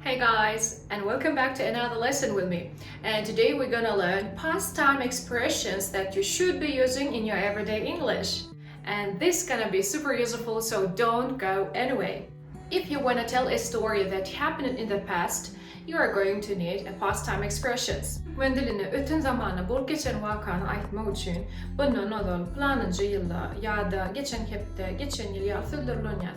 Hey guys and welcome back to another lesson with me and today we gonna learn past time expressions that you should be using in your everyday English and this gonna be super useful so don't go anyway if you wanna tell a story that happened in the past you are going to need a past time expressions men diline öten zamana bolup geçen wakany aýtmak üçin bundan ozal planynja ýylda ýa-da geçen hepde geçen ýyl ýaly sözler ulanýan.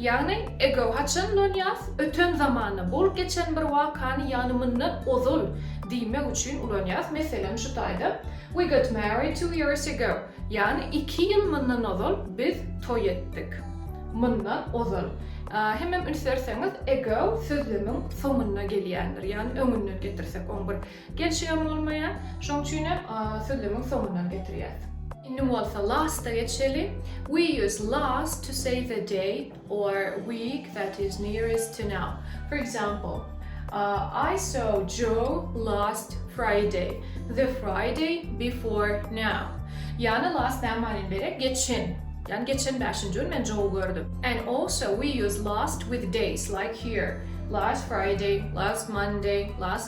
Ýagny, ego haçan ulanýas, öten zamanda, bolup geçen bir wakany ýagny mundan ozal diýmek üçin ulanýas, meselem şu taýda, We got married two years ago, ýagny iki ýyl mundan ozal biz toý etdik. Mundan ozal. Hemem üns berseňiz, ego sözlemiň soňunda gelýändir, ýagny öňünden getirsek on bir. Gel şu ýaman bolmaýa. Şoň üçinem sözlemiň soňundan getirýäs. Indi bolsa last-a geçeli. We use last to say the day or week that is nearest to now. For example, I saw Joe last Friday, the Friday before now. Ýagny last näme manyny berýär? Geçen. Ýagny geçen bäşinji gün men Joe-y gördüm. And also we use last with days like here, last Friday, last Monday, last.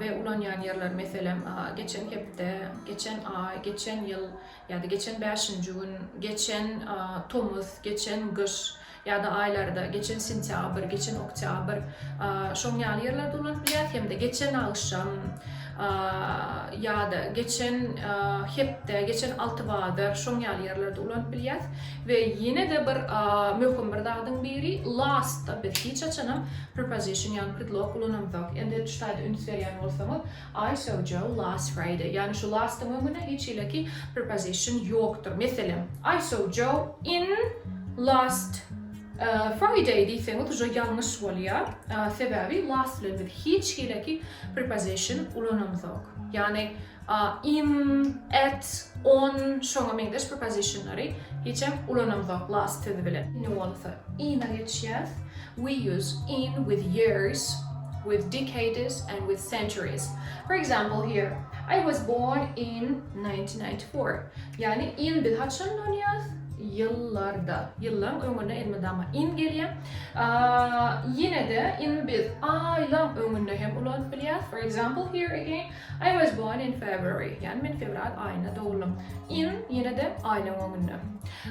we ulanýan ýerler, meselem, geçen hepde, geçen aý, geçen ýyl ýa-da geçen bäşinji gün, geçen tomus, geçen gyş ýa-da aýlarda, geçen sentýabr, geçen oktýabr, şoň ýaly ýerlerde ulanyp bilýäris, hem-de geçen agşam ýa-da geçen hepde, geçen altybadyr, şoň ýaly ýerlerde ulanyp bilýäris we ýene-de bir möhüm bir zadyň biri last-da biz hiç haçanam Preposition ýagny predlog ulanamzok. Indi şu taýda üns berýän bolsaňyz, I saw Joe last Friday. Ýagny şu last-yň öňünde hiç hileki preposition ýokdur. Meselem, I saw Joe in last Friday diýseňiz uje ýalňyş bolýar. Sebäbi last bilen biz hiç hileki preposition ulanamzok. Ýagny A, in, at, on, şoňa meňzeş prepositionlary hiç hem ulanamzok last sözi bilen. Indi bolsa in-a geçýäs. We use in with years, with decades and with centuries. For example here, I was born in 1994. Ýagny in biz haçan ulanýarys? Ýyllarda. Ýyllaryň öňüne elmydama in gelýär. Ýene-de in biz aýlaryň öňünde hem ulanyp bilýäris. For example here again, I was born in February, ýagny men fewral aýynda dogluym. In, ýene-de aýlaryň öňünde.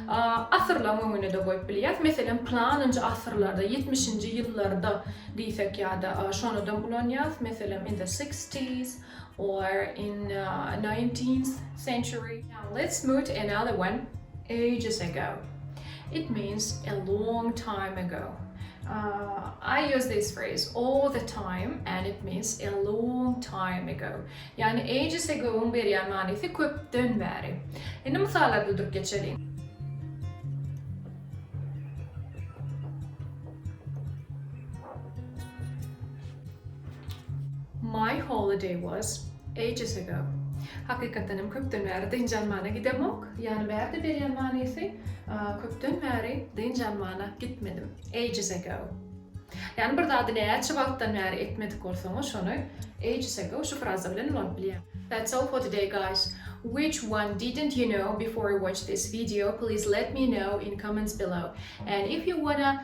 Asyrlaryň öňünde-de goýup bilýäris. Meselem, planynjy asyrlarda, ýetmişinji ýyllarda diýsek ýa-da şonudam ulanýarys. Meselem, in the sixties or in nineteenth century. Now let's move to another one, ages ago. It means a long time ago. Uh, I use this phrase all the time and it means a long time ago. Yani ages ago'un berýän manysy köpden bäri. Indi mysallar dudup geçeliň. My holiday was ages ago. Hakykatdan hem köpden bäri dynç almana gidemok. Ýary bärde berýän manysy, Köpden bäri dynç almana gitmedim, ages ago. Ýani bir zady näçe wagtdan bäri etmedik bolsaňyz şony ages ago şu fraza bilen ulanyp bilýäň. That's all for today guys. Which one didn't you know before you watch this video please let me know in comments below and if you wanna